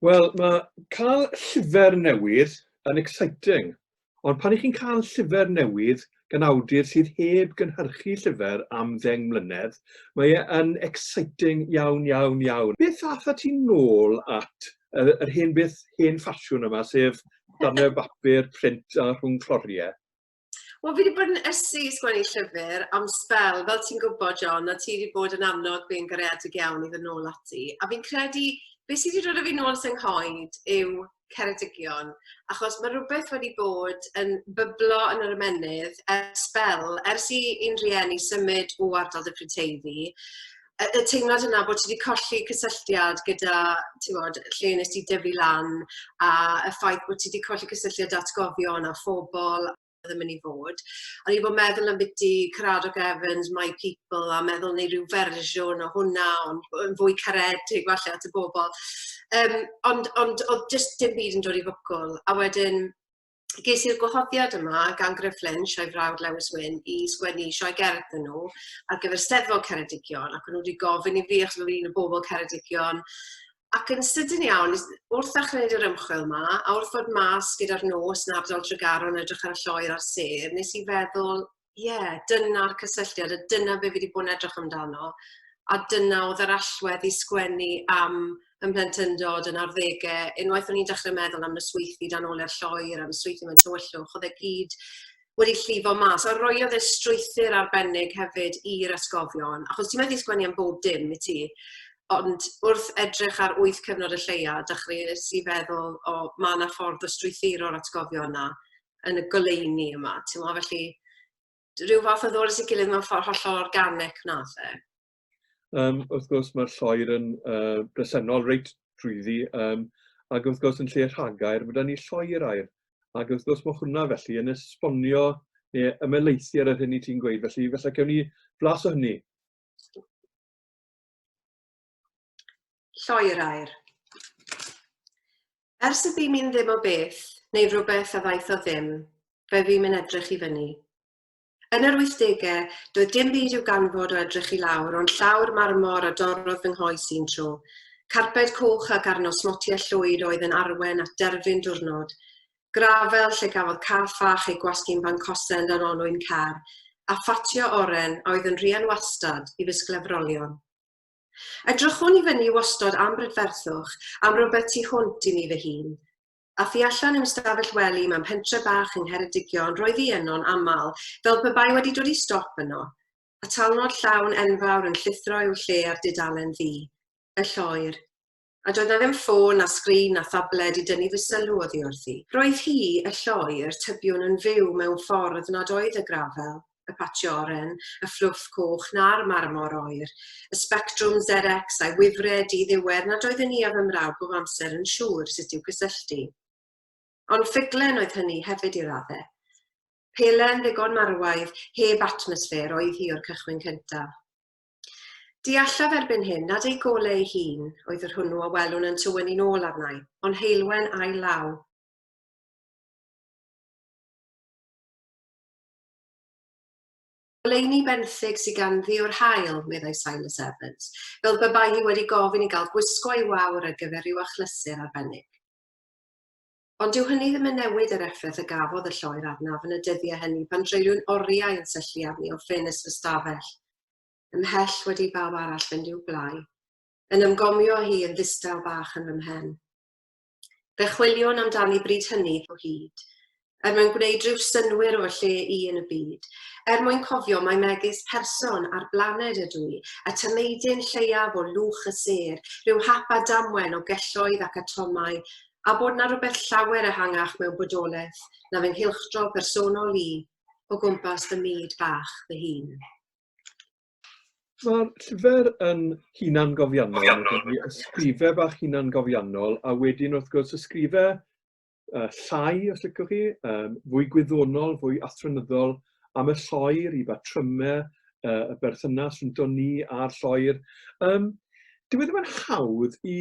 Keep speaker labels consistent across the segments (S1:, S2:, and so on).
S1: Wel, mae cael llyfr newydd yn exciting, ond pan ych chi'n cael llyfr newydd gan awdur sydd heb gynhyrchu llyfr am ddeng mlynedd, mae e yn exciting iawn, iawn, iawn. Beth atha ti'n nôl at yr, yr hen beth, hen ffasiwn yma, sef darnau bapur, print a rhwng cloriau? Wel, fi wedi
S2: bod yn ysu i sgwennu llyfr am spel, fel ti'n gwybod, John, a ti wedi bod yn annog fi'n garedig iawn i ddyn nôl ati. A fi'n credu, beth sydd wedi dod o fi nôl sy'n nghoed yw Ceredigion, achos mae rhywbeth wedi bod yn byblo yn yr ymennydd ers spel, ers i un rhieni symud o ardal Dyffryn Teifi, y, y teimlad yna bod ti wedi colli cysylltiad gyda, ti'n bod, lle nes ti dyfu lan, a y ffaith bod ti wedi colli cysylltiad atgofion a phobl ddim yn ei fod. O'n i bod meddwl am biti Caradog Evans, My People, a meddwl neu rhyw fersiwn o hwnna, ond yn fwy caredig falle at y bobl. Um, ond, ond oedd jyst dim byd yn dod i fwcwl. A wedyn, ges i'r gwahoddiad yma gan Griff Lynch a'i frawd Lewis Wyn i sgwennu sioe gerdd yn nhw ar gyfer Steddfod Ceredigion ac o'n nhw wedi gofyn i fi achos o'n i'n y bobl Ceredigion ac yn sydyn iawn wrth achreid yr ymchwil yma a wrth fod mas gyda'r nos yn ardal Tregaron edrych ar y lloer a'r sedd nes i feddwl ie, dyna'r cysylltiad a dyna be fi 'di bod yn edrych amdano a dyna o'dd yr allwedd i sgwennu am ym mhlentyndod yn arddege unwaith o'n i'n dechre meddwl am fy sweithdy dan ole'r lloer a fy sweithdy mewn tywyllwch o'dd e gyd wedi llifo mas a roiodd e strwythur arbennig hefyd i'r atgofion achos ti methu sgwennu am bob dim i ti ond wrth edrych ar wyth cyfnod y lleia dechreues i feddwl o ma' 'na ffordd o strwythuro'r atgofion 'na yn y goleuni yma, ti'n mo, felly rhyw fath o ddod at ei gilydd mewn ffordd hollol organic na, fe. Um,
S1: wrth gwrs, mae'r lloer yn uh, bresennol reit drwyddi, um, ac wrth gwrs yn lle rhagair, mae da ni lloer air, ac wrth gwrs mae hwnna felly yn esbonio neu ymelaethu ar yr hyn i ti'n gweud, felly felly cawn ni flas o hynny.
S2: Lloi'r air. Ers y ddim i'n ddim o beth, neu rhywbeth a ddaeth o ddim, fe fi'm yn edrych i fyny. Yn yr 80au, doedd dim byd i'w ganfod o edrych i lawr, ond llawr marmor a dorrodd fy nghoes i'n tro. Carped coch ac arno smotiau llwyd oedd yn arwen at derfyn diwrnod. Grafel lle gafodd cath fach ei gwasgu'n fancosen dan olwyn car, a ffatio oren a oedd yn rhian wastad i fy sglefrolion. Edrychwn i fyny wastod am brydferthwch, am rywbeth tu hwnt i mi fy hun. A thu allan i'm stafell wely mewn pentre bach yng Ngheredigion roedd hi yno'n aml, fel pe bai wedi dod i stop yno. A talnod llawn enfawr yn llithro i'w lle ar dudalen ddu. Y lloer. a doedd 'na ddim ffôn na sgrin na thabled i dynnu fy sylw oddi wrthi. Roedd hi, y lloi, yr tybiwn yn fyw mewn ffordd nad oedd y grafel, y patio oren, y fflwff coch na'r marmor oer, y sbectrwm Xerex a'i wifre di-ddiwedd nad oeddwn i a fy mrawd bob amser yn siŵr sut i'w gysylltu. Ond ffuglen oedd hynny hefyd i radde. Pelen ddigon marwaidd, heb atmosffer, oedd hi o'r cychwyn cyntaf. Deallaf erbyn hyn nad ei golau ei hun oedd yr hwnnw a welwn yn tywynnu'n ôl arnai, ond heulwen ail law. Goleuni benthyg sydd ganddi o'r haul, meddai Silas Evans, fel pe bai hi wedi gofyn i gael gwisgo ei wawr ar gyfer rhyw achlysur arbennig. Ond dyw hynny ddim yn newid yr effaith y gafodd y lloer arnaf yn y dyddiau hynny pan dreulwn oriau yn syllu arni o ffenest fy stafell, ymhell wedi i bawb arall fynd i'w gwlâu, yn ymgomio â hi yn ddistaw bach yn fy mhen. Fe chwiliwn amdani bryd hynny o hyd, er mwyn gwneud rhyw synnwyr o fy lle i yn y byd, er mwyn cofio mai megis person ar blaned ydw i, a tameidyn lleiaf o lwch y sêr, rhyw hap a damwen o gelloedd ac atomau a bod 'na rywbeth llawer ehangach mewn bodolaeth na fy nghylchdro personol i o gwmpas fy myd bach fy hun.
S1: Mae'r llyfr yn hunangofiannol, mae ysgrifau bach hunangofiannol, a wedyn wrth gwrs ysgrifau uh, llai, os licwch chi, um, fwy gwyddonol, fwy athronyddol, am y lloer, i batrymau, uh, y berthynas rhwng ni a'r lloer. Um, dyw e ddim yn hawdd i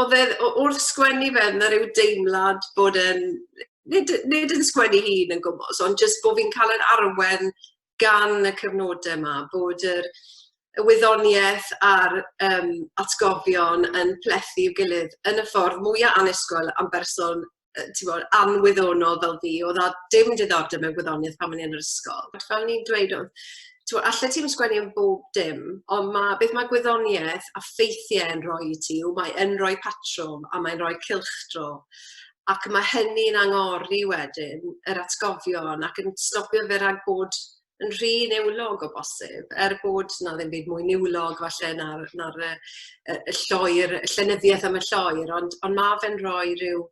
S2: oedd e... o- wrth sgwennu fe, oedd 'na ryw deimlad bod e'n... nid nid yn sgwennu ei hun yn gwmws, ond jyst bod fi'n cael yr arwen gan y cyfnodau 'ma, bod yr y wyddoniaeth a'r yym atgofion yn plethu i'w gilydd yn y ffordd mwya' annisgwyl â'n berson yy t'mod anwyddonol fel fi o'dd a dim diddordeb mewn gwyddonieth pan o'n i yn yr ysgol. Ond fel o'n i'n dweud o'dd t'mo' allet ti 'im sgwennu am bob dim on' ma' beth ma' gwyddonieth a ffeithie yn rhoi i ti yw mae yn roi patrwm a mae'n roi cylchdro ac ma' hynny'n angori wedyn yr atgofion ac yn stopio fe rag bod yn rhy niwlog o bosib er bod 'na ddim byd mwy niwlog falle na'r na'r yy y y lloer y llenyddieth am y lloer ond ond ma' fe'n roi ryw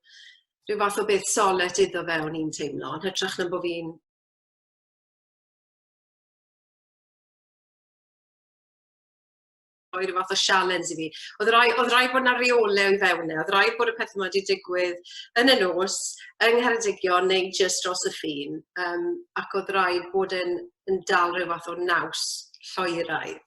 S2: ryw fath o beth solet iddo fe o'n i'n teimlo yn hytrach na bo' fi'n rhoi rhyw fath o sialens i fi. Oedd rai, oedd rai bod yna reole i fewn e, oedd rai bod y pethau yma wedi digwydd yn y nos, yng Ngheredigion neu jyst dros y ffin, um, ac oedd rai bod yn, yn dal rhyw fath o naws lloeraidd.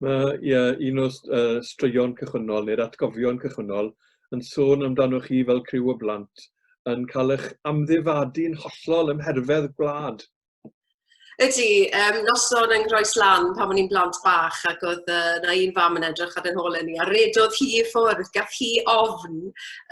S1: Mae yeah, un o'r uh, straeon cychwynnol neu'r atgofion cychwynnol yn sôn amdanoch chi fel criw o blant yn cael eich amddifadu yn hollol ymherfedd gwlad. Ydy,
S2: um, noson yng Nghroes Lan pan o'n i'n blant bach ac oedd uh, na un fam yn edrych ar ein hôl ni a redodd hi i ffwrdd, gath hi ofn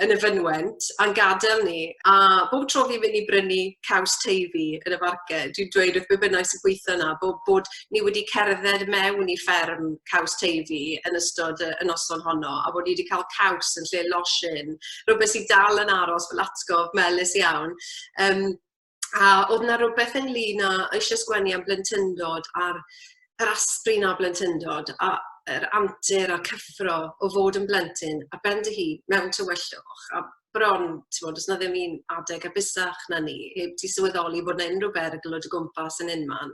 S2: yn y fynwent a'n gadael ni. A bob tro fi'n mynd i brynu caws teifi yn y farge, dwi'n dweud wrth bynnag sy'n gweithio yna bod, bod ni wedi cerdded mewn i fferm caws teifi yn ystod y noson honno a bod ni wedi cael caws yn lle losin, rhywbeth sy'n dal yn aros fel atgof melus iawn. Um, a oedd yna rhywbeth ynglyn â eisiau sgwennu am blentyndod a'r yr asprin a blentyndod a yr antur a'r cyffro o fod yn blentyn a ben dy hun mewn tywyllwch a bron, ti'n bod, os na ddim un adeg a busach na ni, heb ti sylweddoli bod na unrhyw berygl o dy gwmpas yn unman.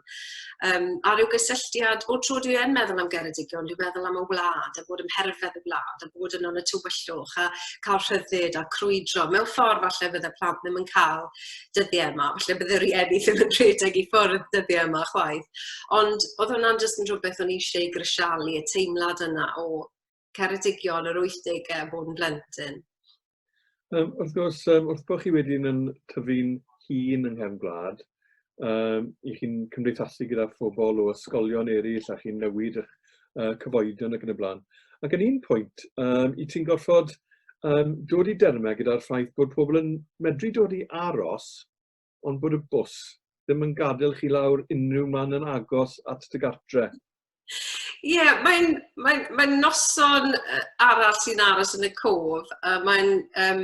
S2: Um, a rhyw gysylltiad, o tro dwi yn meddwl am Geredigion, dwi'n meddwl am y wlad, a bod yn herfedd y wlad, a bod yn o'n y tywyllwch, a cael rhyddid a crwydro. Mewn ffordd falle bydde plant ddim yn cael dyddiau yma. Falle bydd y rhieni ddim yn rhedeg i ffwrdd dyddiau yma chwaith. Ond oedd hwnna'n jyst yn rhywbeth o'n i eisiau ei grisialu, y teimlad yna o Ceredigion yr 80au a bod yn blentyn. Um,
S1: wrth gwrs, um, wrth bod chi wedyn yn tyfu'n hun yng nghefn gwlad, um, i chi'n cymdeithasu gyda phobl o ysgolion eraill a chi'n newid eich uh, cyfoedion ac yn y blaen. Ac yn un pwynt, um, i ti'n gorfod um, dod i dermau gyda'r ffaith bod pobl yn medru dod i aros ond bod y bws ddim yn gadael chi lawr unrhyw man yn agos at dy gartre. Ie,
S2: mae'n mae'n mae'n noson yy arall sy'n aros yn y cof, a mae'n yym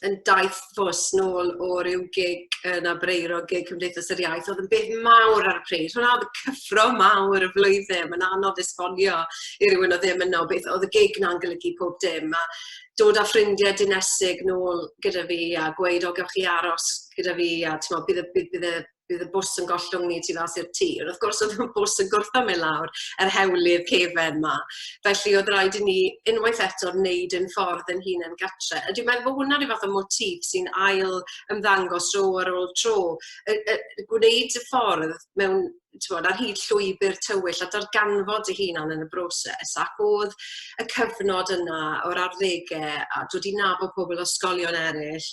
S2: yn daith fus nôl o ryw gig yn Abreiro, gig Cymdeithas yr Iaith, oedd yn beth mawr ar y pryd. Hwnna oedd y cyffro mawr y flwyddyn, mae'n anodd esbonio i rywun oedd ddim yno beth oedd y gig na'n golygu pob dim, a dod â ffrindiau dinesig nôl gyda fi a gweud, o, gewch chi aros gyda fi, a timod, bydd y bydd y bydd y bws yn gollwng ni tu fas i'r tir. Wrth gwrs, oedd y bws yn gwrtho mewn lawr yr hewlydd cefen yma. Felly, oedd rhaid i ni unwaith eto wneud yn ffordd yn hun yn gatre. A dwi'n meddwl bod hwnna rhyw fath o motif sy'n ail ymddangos tro ar ôl tro. Y, y, gwneud y ffordd mewn bod, ar hyd llwybr tywyll a darganfod y hunan yn y broses ac oedd y cyfnod yna o'r arddegau a dod i nabod pobl o sgolion eraill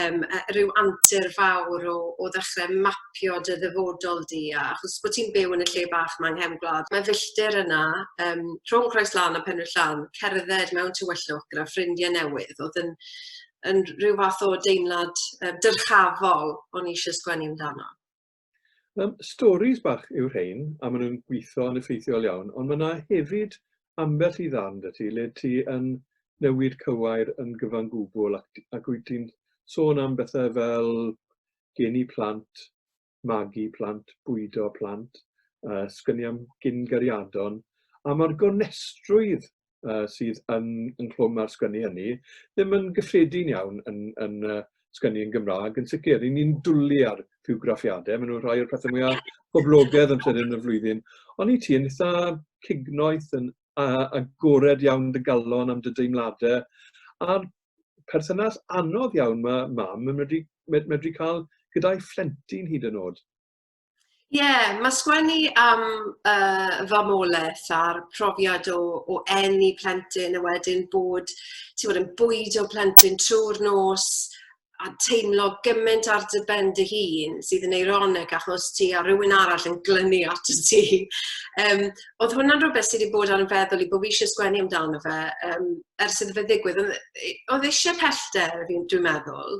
S2: um, rhyw antur fawr o, o ddechrau mapio dy ddyfodol di, a achos bod ti'n byw yn y lle bach mae'n nghefn gwlad, mae filltir yna, um, rhwng Croes Lan a Penrhyd Llan, cerdded mewn tywyllwch gyda ffrindiau newydd, oedd yn, yn rhyw fath o deimlad um, dyrchafol o'n eisiau sgwennu amdano. Um,
S1: stories bach yw rhain, a maen nhw'n gweithio yn effeithiol iawn, ond mae yna hefyd ambell i ddarn dy ti le ti yn newid cywair yn gyfan gwbl ac, ac wyt ti'n sôn am bethau fel geni plant, magu plant, bwydo plant, uh, sgyni am gyn gariadon, a mae'r gonestrwydd uh, sydd yn, yn clwm ar sgynnu hynny, ddim yn gyffredin iawn yn, yn uh, sgynnu yn Gymraeg, yn sicr. Yn ni'n dwlu ar ffiwgraffiadau, maen nhw'n rhai o'r pethau mwyaf poblogedd yn llynedd yn y flwyddyn. Ond i ti yn eitha cignoeth yn agored iawn dy galon am dy deimladau, a'r perthynas anodd iawn mae mam yn medru, medru cael gyda'i phlentyn hyd yn oed. Ie, yeah,
S2: mae sgwennu am uh, fy molaeth a'r profiad o, o enni plentyn a wedyn bod, ti'n bod yn bwyd o plentyn trwy'r nos a teimlo gymaint ar dy ben dy hun sydd yn eironig achos ti a rhywun arall yn glynu at y ti. Um, oedd hwnna'n rhywbeth sydd wedi bod ar y feddwl i bod fi eisiau sgwennu amdano fe um, ers iddo fe ddigwydd. Oedd eisiau pellter, dwi'n meddwl,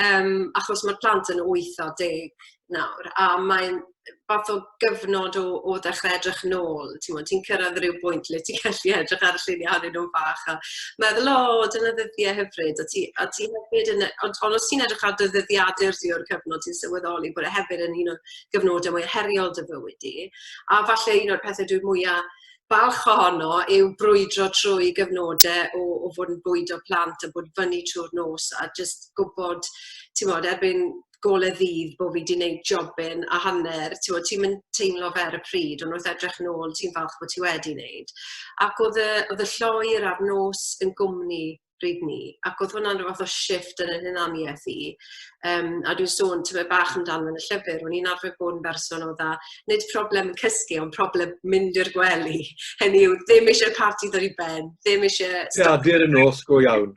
S2: um, achos mae'r plant yn 8 o 10 nawr a mae'n fath o gyfnod o o ddechrau edrych nôl t'mod ti'n cyrraedd ryw bwynt lle ti'n gallu edrych ar y lluniau ohonyn nhw'n fach a meddwl o dyna ddyddiau hyfryd a ti a ti hefyd yn yy ond ond os ti'n edrych ar dy ddyddiadur di o'r cyfnod ti'n sylweddoli bod e hefyd yn un o gyfnodau mwya heriol dy fywyd di a falle un o'r pethe dwi mwya balch ohono yw brwydro trwy gyfnodau o o fod yn bwydo plant a bod fyny trw'r nos a jyst gwbod t'mod erbyn gole ddydd bod fi 'di neud jobyn a hanner t'mod ti'm yn teimlo fe ar y pryd ond wrth edrych nôl ti'n falch bo' ti wedi neud. Ac o'dd y o'dd y lloer a'r nos yn gwmni pryd 'ny ac o'dd hwnna'n ryw fath o shifft yn 'yn hunanieth i yym a dwi'n sôn tymed bach amdano yn y llyfyr o'n i'n arfer bod yn berson o'dd a nid problem cysgu ond problem mynd i'r gwely hynny yw ddim isie parti ddod i ben ddim isie... Ie dur y nos
S1: go iawn.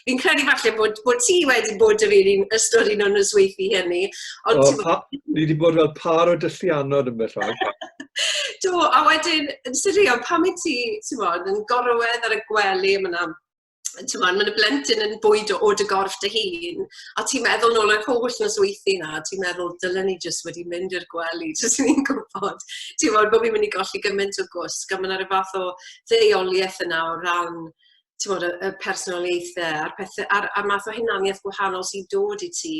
S1: Fi'n credu falle
S2: bod, bod ti wedi bod yr un i'n ystod un o'n nosweithi hynny. Ond o, pa,
S1: ni wedi bod fel par o dyllianod yn beth rhaid. Do,
S2: a wedyn, yn sirion, pam i ti, ti'n bod, yn gorwedd ar y gwely am yna, ti'n bod, mae'n y blentyn yn bwyd o od y gorff dy hun, a ti'n meddwl nôl yr holl nosweithi na, ti'n meddwl, dylen ni jyst wedi mynd i'r gwely, jyst ni'n gwybod, ti'n bod, bod fi'n mynd i golli gymaint o gwsg, a mae'n ar y fath o ddeioliaeth yna o ran t'mod y y personoliaethe a'r pethe a'r a'r math o hunaniaeth gwahanol sy'n dod i ti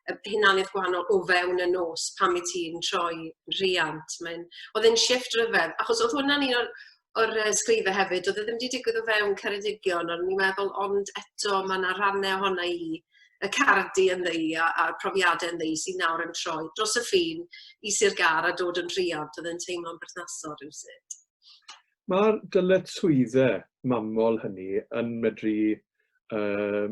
S2: y hunaniaeth gwahanol o fewn y nos pan wyt ti'n troi rhiant. Mae'n... Oedd e'n shift rhyfedd, achos oedd hwnna'n un o'r o'r uh, sgrife hefyd, oedd e ddim wedi digwydd o fewn Ceredigion, ond ni'n meddwl, ond eto mae yna rannau ohona i, y cardi yn ddeu a'r profiadau yn ddeu sy'n nawr yn troi dros y ffin i Sir Gar a dod yn rhiant, oedd e'n teimlo'n berthnasol rhywsut. Mae'r
S1: dyletswyddau mamol hynny yn medru, uh,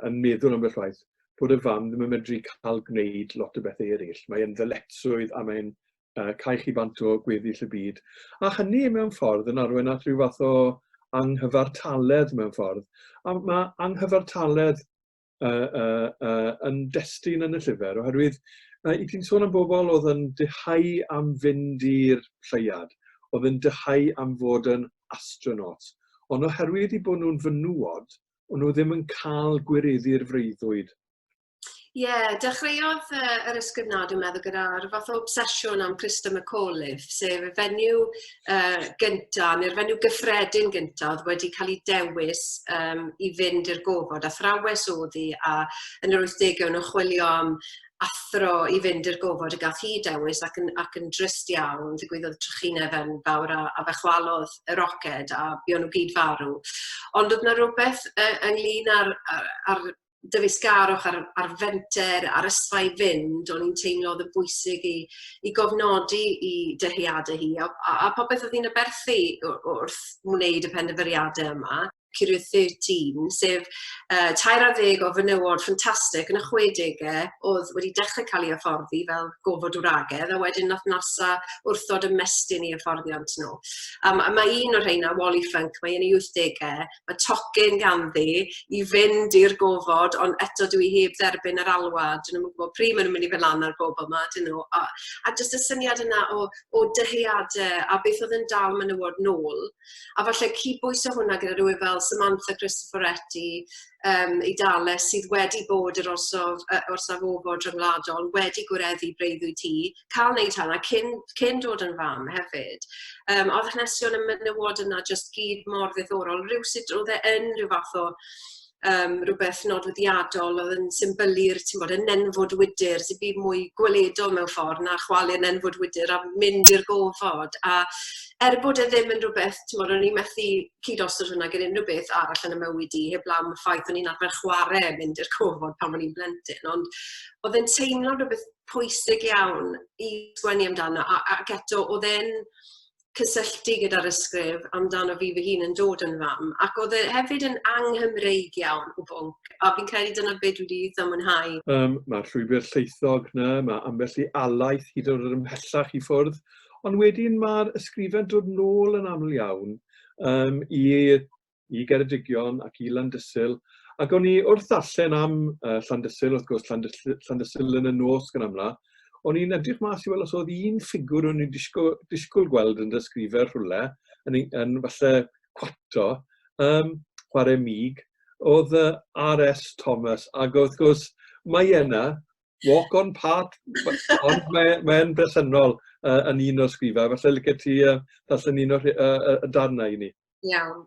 S1: yn meddwl ambell waith, bod y fam ddim yn medru cael gwneud lot o bethau eraill. Mae'n ddyletswydd a mae'n uh, cael chi bant o gweddill y byd. A hynny mewn ffordd yn arwain at rhyw fath o anghyfartaledd mewn ffordd. A mae anghyfartaledd uh, uh, uh, yn destun yn y llyfr, oherwydd uh, i ti'n sôn am bobl oedd yn dyhau am fynd i'r lleiad, oedd yn dyhau am fod yn astronaut, ond oherwydd i bod nhw'n fynwod, ond nhw ddim yn cael gwireddu'r freuddwyd. Ie, yeah, dechreuodd
S2: uh, yr ysgrifnad yn meddwl gyda'r fath o obsesiwn am Christa McAuliffe, sef y fenyw uh, gynta, neu'r fenyw gyffredin gynta oedd wedi cael ei dewis um, i fynd i'r gofod. A thrawes oedd hi, a yn yr 80au nhw'n chwilio am athro i fynd i'r gofod y gath hi dewis ac yn, ac yn drist iawn, ddigwyddodd trychineb yn fawr a, a fe chwalodd y roced a buon nhw gyd farw. Ond oedd yna rhywbeth uh, ynglyn â'r, ar, ar dyfeisgarwch ar ar fenter ar ysfa i fynd o'n i'n teimlo o'dd yn bwysig i i gofnodi 'i dyheade hi a a a popeth o'dd hi'n aberthu w- w- wrth wneud y pendyfyriade yma. Period thirteen sef yy tair ar ddeg o fenywod ffantastic yn y chwedege o'dd wedi dechre ca'l 'u hyfforddi fel gofod wragedd a wedyn nath Nasa wrthod ymestyn 'u hyfforddiant n'w. A ma' a ma' un o rheina Wally Funk mae yn 'i wythdege y tocyn ganddi i fynd i'r gofod ond eto dw i heb dderbyn yr alwad dw i ddim yn gwybod pryd maen nhw'n mynd i fynd lan ar y gofod 'ma ydyn nhw a a jyst y syniad yna o o dyheadau a beth oedd yn dal menywod nôl a falle cyd-bwyso hwnna gyda rhywun fel Samantha Cristoforetti um, i Dales sydd wedi bod yr orsaf, uh, orsaf ofod rhyngwladol, wedi gwireddu breuddwyd ti, cael wneud hynna cyn cyn dod yn fam hefyd. Yym o'dd hanesion y menywod yna jyst gyd mor ddiddorol rywsut o'dd e yn rhyw fath o yym rhywbeth nodweddiadol o'dd yn symbylu'r ti'n bod y nenfwd wydr sy'n byd mwy gweledol mewn ffordd na chwalu nenfwd wydr a mynd i'r gofod a er bod e ddim yn rhywbeth ti'n bod o'n i'n methu cyd os o'r hwnna gyda unrhyw beth arall yn y mywyd i heb lawn y ffaith o'n i'n arfer chwarae mynd i'r cofod pan o'n i'n blentyn ond oedd e'n teimlo rhywbeth pwysig iawn i sgwennu amdano a ac eto o'dd e'n cysylltu gyda'r ysgrif amdano fi fy hun yn dod yn fam ac o'dd e hefyd yn anghymreig iawn o bwnc a fi'n credu dyna be dwi 'di itha mwynhau. Yym ma'r llwybyr
S1: llaethog 'na, ma' ambell i alaeth hyd yn o'd ymhellach i ffwrdd, ond wedyn ma'r ysgrifen dod nôl yn aml iawn yym i i Geredigion ac i Landysul, ac o'n i wrth ddarllen am uh, Llandysul, wrth gwrs Llandysul, Llandysul yn y nos gan amla, o'n i'n edrych mas i weld os oedd un ffigwr o'n i'n disgwyl, disgwyl gweld yn dysgrifer rhywle, yn, yn falle cwato, um, chwarae mig, oedd y R.S. Thomas, ac wrth gwrs mae yna, walk on part, ond mae'n mae bresennol uh, yn un o'r sgrifau. Felly lyca ti uh, ddarllen un o'r uh, darnau i ni. Iawn.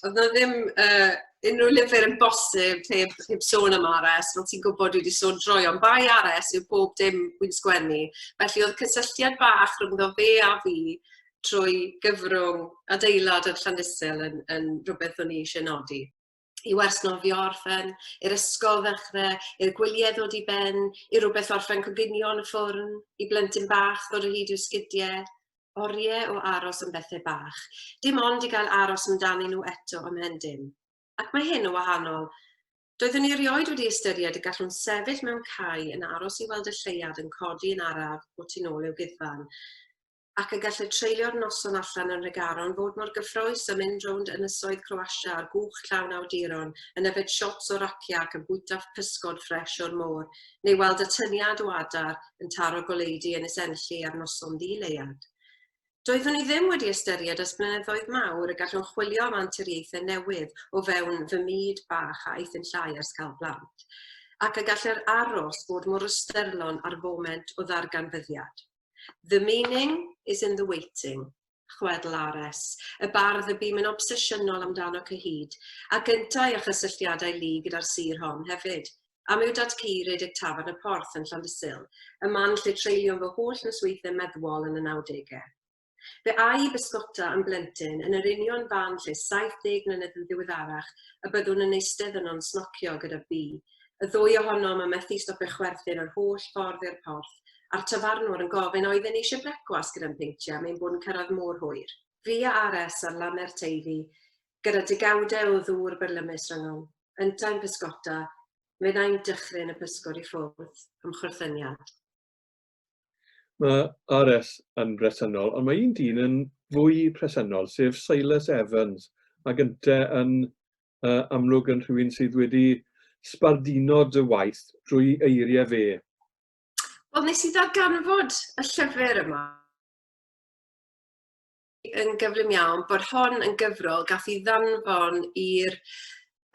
S2: Oedd yna ddim uh, unrhyw lyfr yn bosib heb, heb sôn am RS, fel ti'n gwybod dwi wedi sôn droi, ond bai RS yw bob dim wy'n sgwennu. Felly oedd cysylltiad bach rhwngddo fe a fi trwy gyfrwng adeilad yn Llandysil yn, yn rhywbeth o'n i eisiau nodi. i wers nofio orffen, i'r ysgol ddechrau, i'r gwyliau ddod i ben, i rhywbeth orffen coginio yn y ffwrn, i blentyn bach ddod o hyd i'w sgidiau, oriau o aros am bethau bach, dim ond i gael aros amdanyn nhw eto am hen dim. Ac mae hyn o wahanol. Doeddwn ni erioed wedi ystyried y gallwn sefyll mewn cae yn aros i weld y lleuad yn codi yn araf o tu nôl i'w guddfan. ac y gallai treulio'r noson allan yn Nhregaron fod mor gyffrous â mynd rownd ynysoedd Croatia ar gwch llawn awduron yn yfed shots o rakia ac yn bwyta pysgod ffresh o'r môr, neu weld atyniad o adar yn taro goleudy Ynys Enlli ar noson ddi-leuad. Doeddwn i ddim wedi ystyried ers blynyddoedd mawr y gallwn chwilio am anturiaethau newydd o fewn fy myd bach a eithin llai ers cael plant, ac y gall yr aros fod mor ystyrlon â'r foment o ddarganfyddiad. The meaning is in the waiting, chwedl Ares, y bardd y bûm yn obsesiynol amdano cyhyd, a gyntai a chysylltiadau lu gyda'r sir hon hefyd. Am yw Dad Cu redeg Tafarn y Porth yn Llandysul, y man lle treulio'n fy holl nosweithiau meddwol yn y nawdegau. Fe a'i bysgota yn blentyn yn yr union fan lle 70 mlynedd yn ddiweddarach y byddwn yn eistedd yno'n snocio gyda Bee, Y ddwy ohonom yn methu stopio chwerthin yr holl ffordd i'r porth, a'r tafarnwr yn gofyn oedden ni eisiau brecwast gyda'n peintiau, mae'n bod yn cyrraedd mor hwyr. Fi a Ares ar lane'r Teifi, gyda degawdau o ddŵr byrlymus rhyngom. Yntau'n pysgota, meddai'n dychryn y pysgod i ffwrdd, ymchwrthyniad.
S1: Mae RS yn bresennol, ond mae un dyn yn fwy presennol, sef Silas Evans, ac ynte yn uh, amlwg yn rhywun sydd wedi sbarduno dy waith drwy eiriau fe. Wel,
S2: nes i ddarganfod y llyfr yma yn gyflym iawn bod hon yn gyfrol gath i ddanfon i'r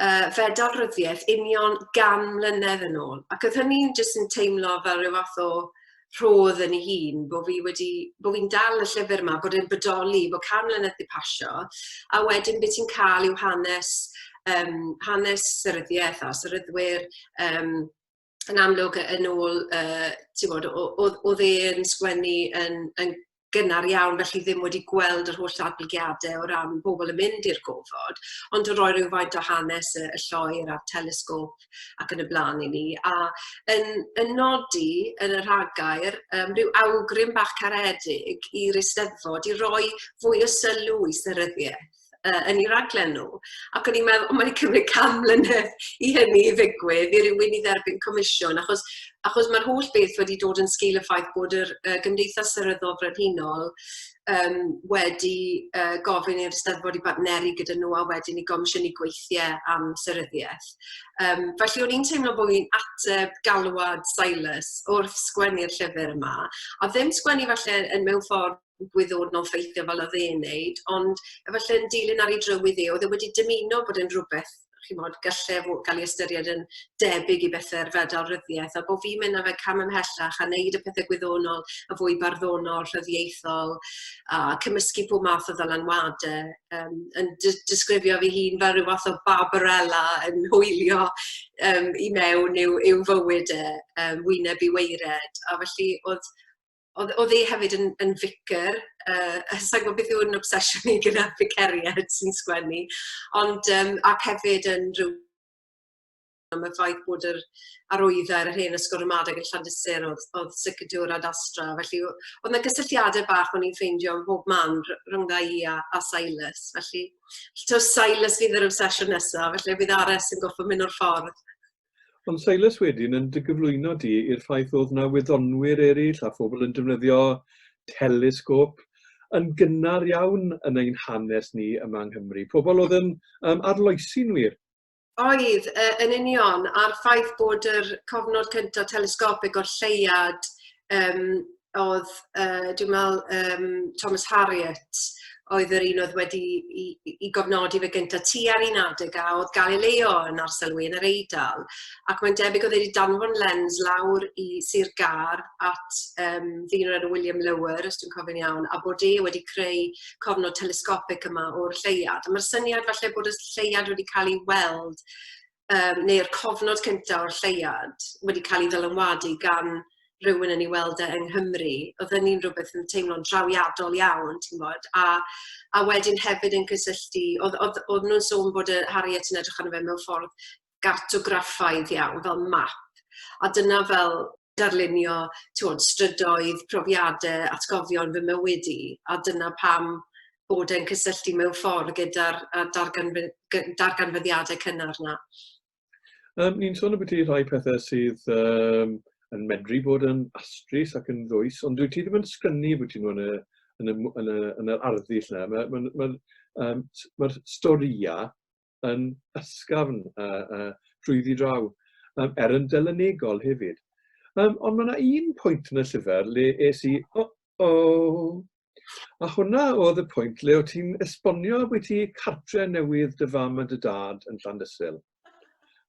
S2: uh, fedal ryddiaeth union gan mlynedd yn ôl. Ac oedd hynny'n jyst yn teimlo fel rhyw fath o rhodd yn ei hun, bod fi wedi, bod fi'n dal y llyfr yma, bod e'n bodoli, bod can mlynedd wedi pasio, a wedyn beth ti'n cael yw hanes, um, hanes syryddiaeth a syryddwyr, um, yn amlwg yy yn ôl yy t'wod o- o'dd o'dd e yn sgwennu yn yn gynnar iawn felly ddim wedi gweld yr holl ddatblygiade o ran bobol yn mynd i'r gofod ond yn roi rywfaint o hanes y y lloer a'r telesgôp ac yn y bla'n i ni a yn yn nodi yn y rhagair yym ryw awgrym bach caredig i'r Eisteddfod i roi fwy o sylw i seryddiaeth uh, yn ei raglen nhw. Ac o'n i'n meddwl, o, mae'n cymryd cam mlynedd i hynny i ddigwydd, i rywun i dderbyn comisiwn, achos, achos mae'r holl beth wedi dod yn sgil y ffaith bod yr uh, Gymdeithas Seryddol Frenhinol um, wedi uh, gofyn i'r Steddfod i bartneru gyda nhw a wedyn i gomisiynu gweithiau am seryddiaeth. Um, felly o'n i'n teimlo bod fi'n ateb galwad Silas wrth sgwennu'r llyfr yma, a ddim sgwennu falle yn mewn ffordd gwyddwr mewn ffeithiau fel oedd e'n neud, ond efallai yn dilyn ar ei drywydd e, oedd e wedi dymuno bod yn rhywbeth chimod, gallai fo gael ei ystyried yn debyg i bethau'r fedal ryddiaeth, a bod fi'n mynd â fe cam ymhellach a wneud y pethau gwyddonol a fwy barddonol, rhyddiaethol, a cymysgu pob math o ddylanwadau, um, yn disgrifio fi hun fel rhyw fath o Barbarella yn hwylio um, i mewn i'w, i'w fywyd e, um, wyneb i weired, a felly oedd oedd, oedd e hefyd yn, yn ficer, uh, sa'n gwybod beth yw'n obsesiwn i gyda ficeriad sy'n sgwennu, ond um, ac hefyd yn rhyw am y ffaith bod yr arwydda ar yr hen ysgol ramadeg yn Llandysir oedd, oedd sicrdiwr a dastra. Felly, oedd yna gysylltiadau bach o'n i'n ffeindio yn bob man rhwng dda i a, a Silas. Felly, to Silas fydd yr obsesiwn nesaf, felly bydd Ares yn goffa mynd o'r ffordd. Ond
S1: Silas wedyn yn dy gyflwyno di i'r ffaith oedd na wyddonwyr eraill a phobl yn defnyddio telesgop yn gynnar iawn yn ein hanes ni yma yng Nghymru. Pobl oedd yn um, arloesi'n wir. Oedd,
S2: yn union, a'r ffaith bod yr cofnod cyntaf telesgopig o'r lleuad um, oedd, uh, dwi'n meddwl, um, Thomas Harriot, oedd yr un oedd wedi i, i, i gofnodi fe gyntaf tu ar un adeg a oedd Galileo yn arselwi yn yr Eidal. Ac mae'n debyg oedd wedi danfon lens lawr i Sir Gar at um, ddyn o'r enw William Lower, os dwi'n cofyn iawn, a bod e wedi creu cofnod telescopig yma o'r lleiad. Mae'r syniad falle bod y lleiad wedi cael ei weld yym neu'r cofnod cynta o'r lleuad wedi cael ei ddylanwadu gan rywun yn ei weld e yng Nghymru, oedd hynny'n rhywbeth yn teimlo'n drawiadol iawn, ti'n gwybod. A, a wedyn hefyd yn cysylltu, oedd, oedd, oedd nhw'n sôn bod y Harriet yn edrych arno fe mewn ffordd gartograffaidd iawn, fel map. A dyna fel, darlunio t'wod strydoedd, profiade, atgofion fy mywyd i, a dyna pam bod e'n cysylltu mewn ffordd gyda'r y darganfy- gy- darganfyddiade cynnar 'na. Um,
S1: ni'n sôn ambiti rhai pethau sydd um, yn medru bod yn astrus ac yn ddwys, ond dwi ti ddim yn sgynnu bod ti'n yn y, yn y, yn y, yn yr arddull yna. Mae'r ma, ma, ma, um, ma storïau yn ysgafn a, a trwyddi draw, um, er yn delynegol hefyd. Um, ond mae yna un pwynt yn y llyfr le es i, o, oh, o, oh. a hwnna oedd y pwynt le o ti'n esbonio bod ti cartre newydd dy fam a dy dad yn Llandysil.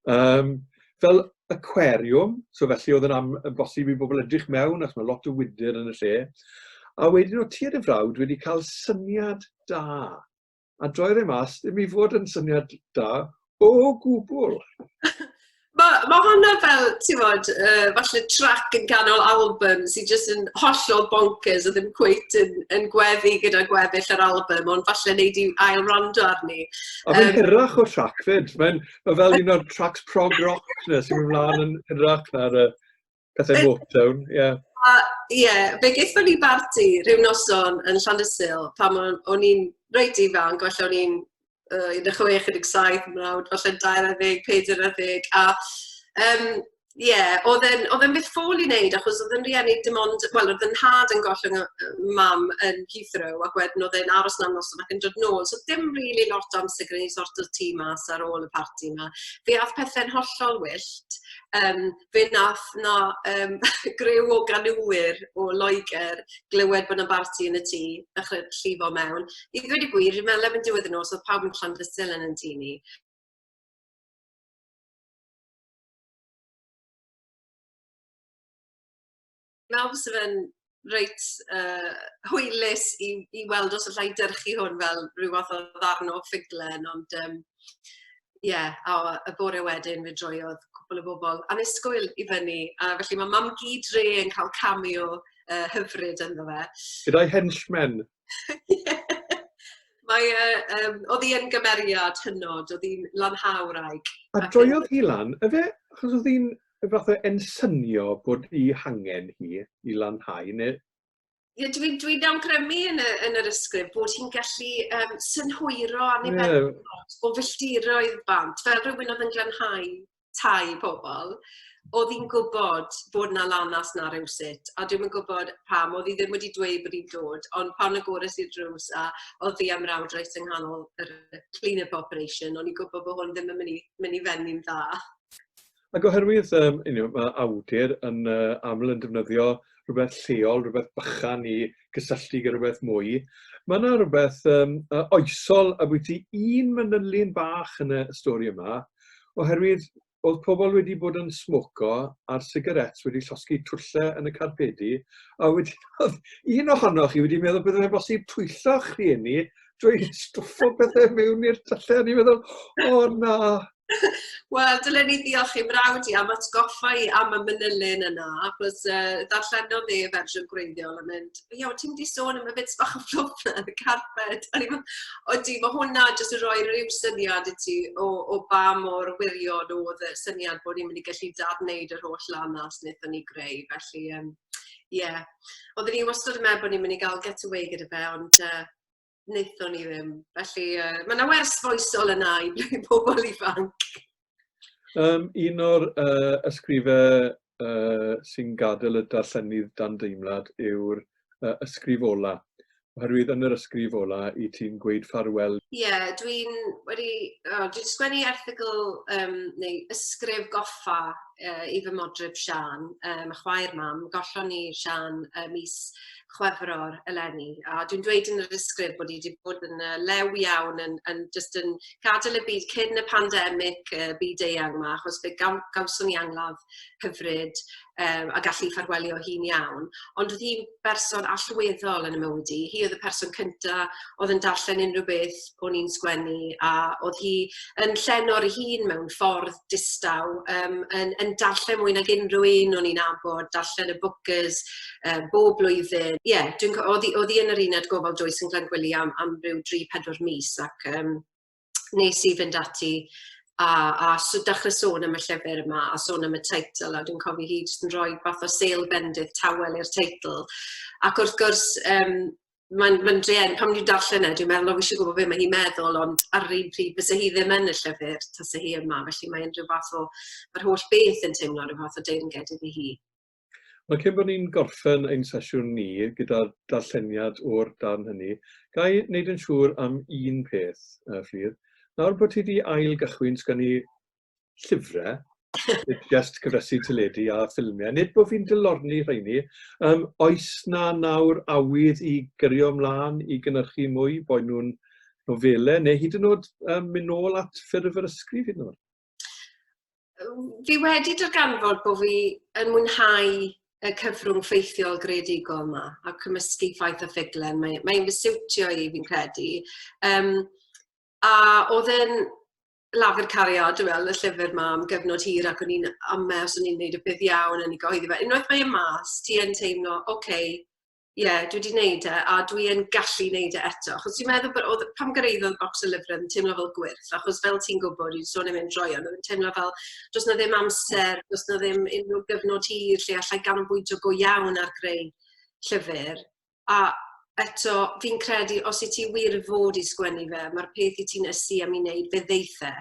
S1: Um, fel aquarium, so felly oedd yn am, yn bosib i bobl edrych mewn, ac mae lot o wydr yn y lle. A wedyn o ti a dy frawd wedi cael syniad da a droi'r ei mas, ddim i fod yn syniad da o gwbl.
S2: Mae ma hwnna fel, ti'n fod, uh, falle trac yn ganol album sy'n jyst yn hollol bonkers a ddim cweit yn, yn gweddi gyda gweddill yr album, ond falle wneud i ail rando arni. A mae'n um, hyrach
S1: o trac fyd. Mae'n ma fel un o'r tracs prog rock na sy'n mynd mlaen yn hyrach na'r uh, Cathau Motown, ie. Yeah. A ie,
S2: yeah, fe gaethon ni barti rhyw noson yn Llandysil pan o'n i'n reit ifanc, falle o'n i'n uh, 16, 17, mrawd, falle 20, 40, a um, Ie, yeah, oedd e'n oedd e'n beth ffôl i wneud, achos oedd yn rieni dim ond, wel, oedd yn had yn gollwng mam yn Heathrow, ac wedyn oedd e'n aros na'n noson ac yn dod nôl. So dim rili really lot o amser gyda ni sort o'r tîm mas ar ôl y parti yma. Fe ath pethau'n hollol wyllt. Um, fe nath 'na yym griw o ganŵwyr o Loegr glywed bod 'na barti yn y tŷ dechre llifo mewn. I ddweud y gwir fi'n meddwl erbyn diwedd y nos o'dd pawb yn Llandysul yn 'yn tŷ ni. Nawr fysa fe'n reit yy hwylus i i weld os alla i dyrchu hwn fel rhyw fath o ddarn o ffuglen ond yym ie a o- y bore wedyn fe droiodd cwpwl o bobol annisgwyl i fyny a felly ma' mam-gu dre yn ca'l cameo yy hyfryd ynddo fe. Gyda'i henchmen.
S1: Ie! Mae
S2: yy yym o'dd 'i yn gymeriad hynod, o'dd 'i'n lanhau wraig. A droiodd hi
S1: lan yfe? Achos o'dd 'i'n Rhywbeth oedd e'n synio bod i hangen hi i lanhau, neu? Ie, dwi'n dwi
S2: awgrymu yn, y, yn yr ysgrif bod hi'n gallu um, synhwyro annibynnol yeah. o filltiroedd bant, fel rhywun oedd yn glanhau tai pobl, oedd hi'n gwybod bod na lanas na rhywsut, a dwi'n yn gwybod pam, oedd hi ddim wedi dweud bod hi'n dod, ond pan y gores i'r drws a oedd hi am rawd reit yng nghanol yr clean-up operation, o'n i'n gwybod bod hwn ddim yn mynd i, mynd i fenni'n dda. Ac
S1: oherwydd, um, you know, mae awdur yn uh, aml yn defnyddio rhywbeth lleol, rhywbeth bychan i gysylltu gyda rhywbeth mwy, mae yna rhywbeth um, uh, oesol a bwyty un manylun bach yn y stori yma, oherwydd oedd pobl wedi bod yn smoco a'r sigarets wedi llosgi twlle yn y carpedi, a wedi, oedd un ohonoch chi wedi meddwl beth oedd bosib twyllo'ch rhieni drwy stwffo pethau mewn i'r tyllau, a ni'n meddwl, o na,
S2: Wel, dylen ni ddiolch i frawd i am atgoffa i am y manylyn yna, achos uh, ddarllenodd dde fersiwn gwreiddiol yn mynd, ie, o ti'n di sôn am y bits bach o fflwp na, y carped. A ni'n o di, mae hwnna jyst yn rhoi rhyw syniad i ti o, o ba mor wirion oedd y syniad bod ni'n mynd i gallu dad-wneud yr holl lanas wnaethon ni greu. Felly, um, ie, yeah. oedden ni wastad yn meddwl bod ni'n mynd i gael get away gyda fe, ond uh, wnaethon ni ddim. Felly, uh, mae yna wers foesol yna i pobl ifanc. Um,
S1: un o'r uh, ysgrifau uh, sy'n gadael y darllenydd dan deimlad yw'r uh, ysgrif ola. Oherwydd yn yr ysgrif ola i ti'n gweud ffarwel. Ie, yeah, dwi'n
S2: wedi... Oh, dwi'n sgwennu erthigl um, neu ysgrif goffa uh, i fy modryb Sian, um, a chwaer mam. Gollon ni Sian uh, mis Chwefror eleni, a dwi'n dweud yn yr ysgrif bod hi wedi bod yn uh, lew iawn yn, yn just yn gadael y byd cyn y pandemig uh, byd eang yma, achos fe gaw, gawson ni angladd hyfryd um, a gallu ffarwelio hi'n iawn. Ond oedd hi'n berson allweddol yn y mywyd i. Hi oedd y person cyntaf oedd yn darllen unrhyw beth o'n i'n sgwennu a oedd hi yn llenor ei hun mewn ffordd distaw, um, yn, yn darllen mwy nag unrhyw un o'n i'n abod, darllen y bookers um, bob blwyddyn. Ie, yeah, dwi'n oedd hi yn yr uned gofal dwys yn Glangwili am, am rhyw 3-4 mis ac um, nes i fynd ati a, a so dechrau sôn am y llyfr yma a sôn am y teitl a dwi'n cofio hi jyst yn rhoi fath o sale bendith tawel i'r teitl ac wrth gwrs um, mae'n ma drueni, pan dwi'n darllen e, dwi'n meddwl, o, fi eisiau gwybod beth mae hi'n meddwl, ond ar yr un pryd, bys hi ddim yn y llyfr, tas hi yma, felly mae'n rhyw fath o, mae'r holl beth yn teimlo rhyw fath o deyrnged iddi hi. Mae cyn
S1: bod ni'n gorffen ein sesiwn ni gyda darlleniad o'r darn hynny, ga i wneud yn siŵr am un peth, uh, Ffydd. Nawr bod ti wedi ail gychwyn, sgan i llyfrau, just cyfresu teledu a ffilmiau, nid bod fi'n dylorni rheini. Um, oes na nawr awydd i gyrio ymlaen i gynnyrchu mwy, bod nhw'n nofelau, neu hyd yn oed um, mynd nôl at ffurf yr ysgrif hyd yn oed?
S2: Fi wedi darganfod bod fi yn mwynhau y cyfrwng ffeithiol greadigol yma a cymysgu ffaith a ffuglen. Mae'n mae, mae fy siwtio i fi'n credu. Um, a oedd yn Lafur Cariad, dwi'n meddwl, y llyfr ma am gyfnod hir ac o'n i'n amau os o'n i'n gwneud y bydd iawn yn ei gyhoeddi fe. Unwaith mae e mas, ti yn teimlo, oce, okay, ie, yeah, dwi wedi gwneud e a dwi yn gallu gwneud e eto. Achos dwi'n meddwl bod oedd, pam gyrraeddodd bocs o lyfrau yn teimlo fel gwyrth, achos fel ti'n gwybod, dwi'n sôn am mynd droi ond yn teimlo fel, does na ddim amser, does na ddim unrhyw gyfnod hir lle allai ganolbwyntio go iawn ar greu llyfr. a eto, fi'n credu, os i ti wir fod i sgwennu fe, mae'r peth i ti'n ysu am i wneud, fe ddeithe.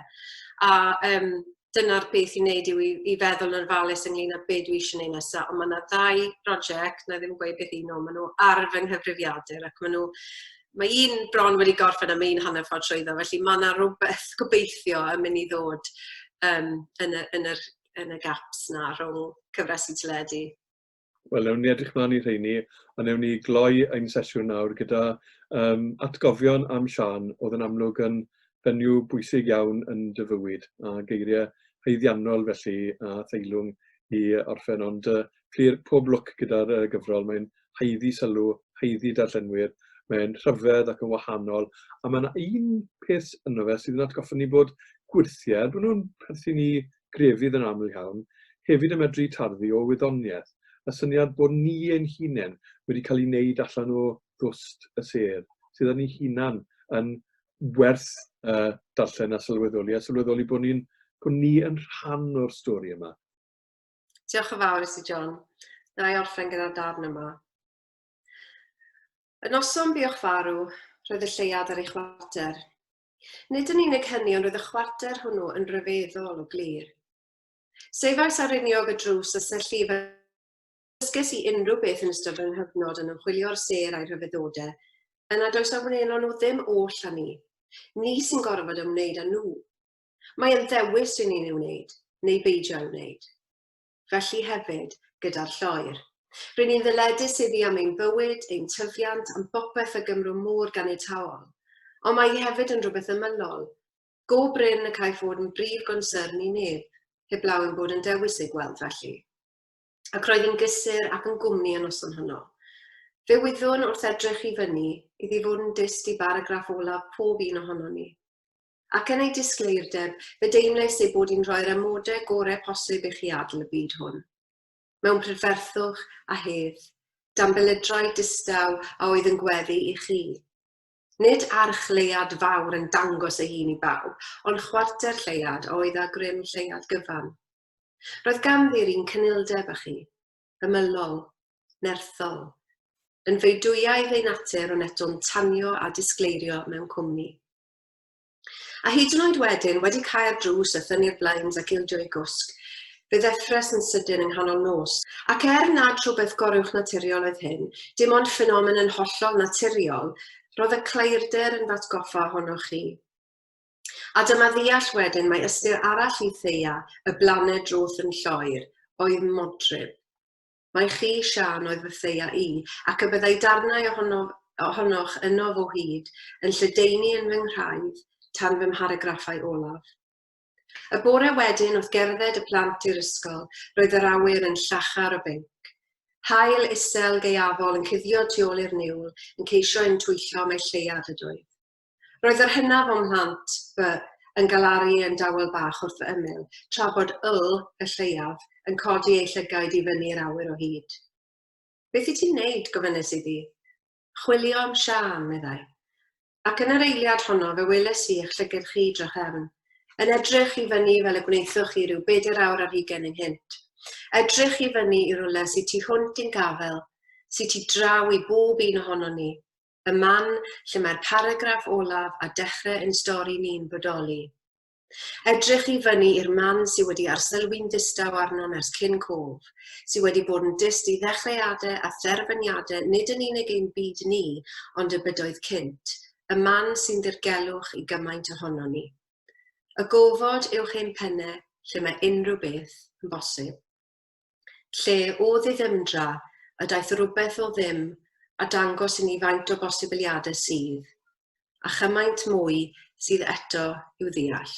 S2: A um, dyna'r beth i wneud yw i, i feddwl yn ofalus ynglyn â beth dwi eisiau gwneud nesaf. Ond mae yna ddau brosiect, na ddim gweud beth un nhw, maen nhw ar fy nghyfrifiadur ac maen nhw Mae un bron wedi gorffen a mae un hanner ffordd trwyddo, felly mae yna rhywbeth gobeithio yn mynd i ddod um, yn, y, yn, yr, yn y gaps na rhwng cyfres i teledu. Wel, newn ni
S1: edrych mlaen i rheini, a newn ni gloi ein sesiwn nawr gyda um, atgofion am Sian, oedd yn amlwg yn fenyw bwysig iawn yn dy fywyd, a geiriau heiddiannol felly a theilwng i orffen, ond uh, clir pob lwc gyda'r uh, gyfrol, mae'n haeddi sylw, haeddi darllenwyr, mae'n rhyfedd ac yn wahanol, a mae'n un peth yno fe sydd yn atgoffa ni bod gwirthiau, bod nhw'n perthyn i grefydd yn aml iawn, hefyd yn medru tarddu o wyddoniaeth, y syniad bod ni ein hunain wedi cael ei wneud allan o ddwst y sêr, sydd â ni hunain yn werth uh, darllen a sylweddoli, a sylweddoli bod, ni, bod ni yn rhan o'r stori yma. Diolch
S2: yn fawr i ti, John. Na i orffen gyda'r darn yma. Y noson buwch farw, roedd y lleiad ar ei chwarter. Nid yn unig hynny ond roedd y chwarter hwnnw yn ryfeddol o glir. Sefais ar riniog y drws a syllu dysges i unrhyw beth yn ystod fy nghyfnod yn ymchwilio'r sêr a'i rhyfeddode, yn nad oes a wneulon nhw ddim oll â ni. Ni sy'n gorfod ymwneud â nhw. Mae yn ddewis i ni ei wneud, neu beidio â'i wneud. felly hefyd gyda'r lloer. Ry'n ni'n ddyledus iddi am ein bywyd, ein tyfiant, am bopeth y Gymro mor ganiataol. Ond mae hi hefyd yn rhywbeth ymylol, go brin y caiff fod yn brif gonsyrn i neb, heblaw ein bod yn dewis ei gweld felly. Ac roedd hi'n gysur ac yn gwmni y noson honno. Fe wyddwn wrth edrych i fyny iddi fod yn dyst i baragraff olaf pob un ohonon ni. Ac yn ei disgleirdeb, fe deimlais ei bod hi'n rhoi'r amodau gorau posib i chi adl y byd hwn. Mewn prydferthwch a hedd, dan belydrau distaw a oedd yn gweddu i chi. Nid arch lleuad fawr yn dangos ei hun i bawb, ond chwarter lleuad a oedd â grym lleuad gyfan. Roedd ganddi'r un cynildeb â chi, ymylol, nerthol. Yn feudwyaidd ei natur ond eto'n tanio a disgleirio mewn cwmni. A hyd yn oed wedyn, wedi cau'r drws a thynnu'r blinds ac ildio i gwsg, fe ddeffres yn sydyn yng nghanol nos. Ac er nad rhywbeth goruwchnaturiol oedd hyn, dim ond ffenomen yn hollol naturiol, roedd y claerder yn f'atgoffa ohonoch chi. A dyma ddeall wedyn mae ystyr arall i Theia, y blaned drwth yn Lloegr, oedd modryb. Mai chi, Siân, oedd fy Theia i, ac y byddai darnau ohono, ohonoch ynof o hyd yn lledaenu yn fy nghraidd tan fy mharagraffau olaf. Y bore wedyn wrth gerdded y plant i'r ysgol, roedd yr awyr yn llachar o binc. Haul isel gaeafol yn cuddio tu ôl i'r niwl, yn ceisio im twyllo mai lleuad ydoedd. Roedd yr hynaf o'm mhlant, fy, yn galaru yn dawel bach wrth fy ymyl, tra bod Ul, y lleiaf, yn codi ei llygaid i fyny i'r awyr o hyd. Beth i ti'n neud? gofynes iddi. Chwilio am Siân, meddai. Ac yn yr eiliad honno fe weles i eich llyged chi drachefn, yn edrych i fyny fel y gwnaethoch chi rhyw bedair awr ar hugain ynghynt. Edrych i fyny i rwle sy tu hwnt i'n gafel, sy tu draw i bob un ohonon ni, y man lle mae'r paragraff olaf a dechrau ein stori ni'n bodoli. Edrych i fyny i'r man sydd wedi arsylwi'n ddistaw arnom ers cyn cof, sydd wedi bod yn dyst i ddechreuadau a therfyniadau nid yn unig ein byd ni, ond y bydoedd cynt, y man sy'n ddirgelwch i gymaint ohono ni. Y gofod uwch ein pennau lle mae unrhyw beth yn bosib. lle o ddiddymdra y daeth rywbeth o ddim a dangos i ni faint o bosibiliadau sydd, a chymaint mwy sydd eto i'w ddeall.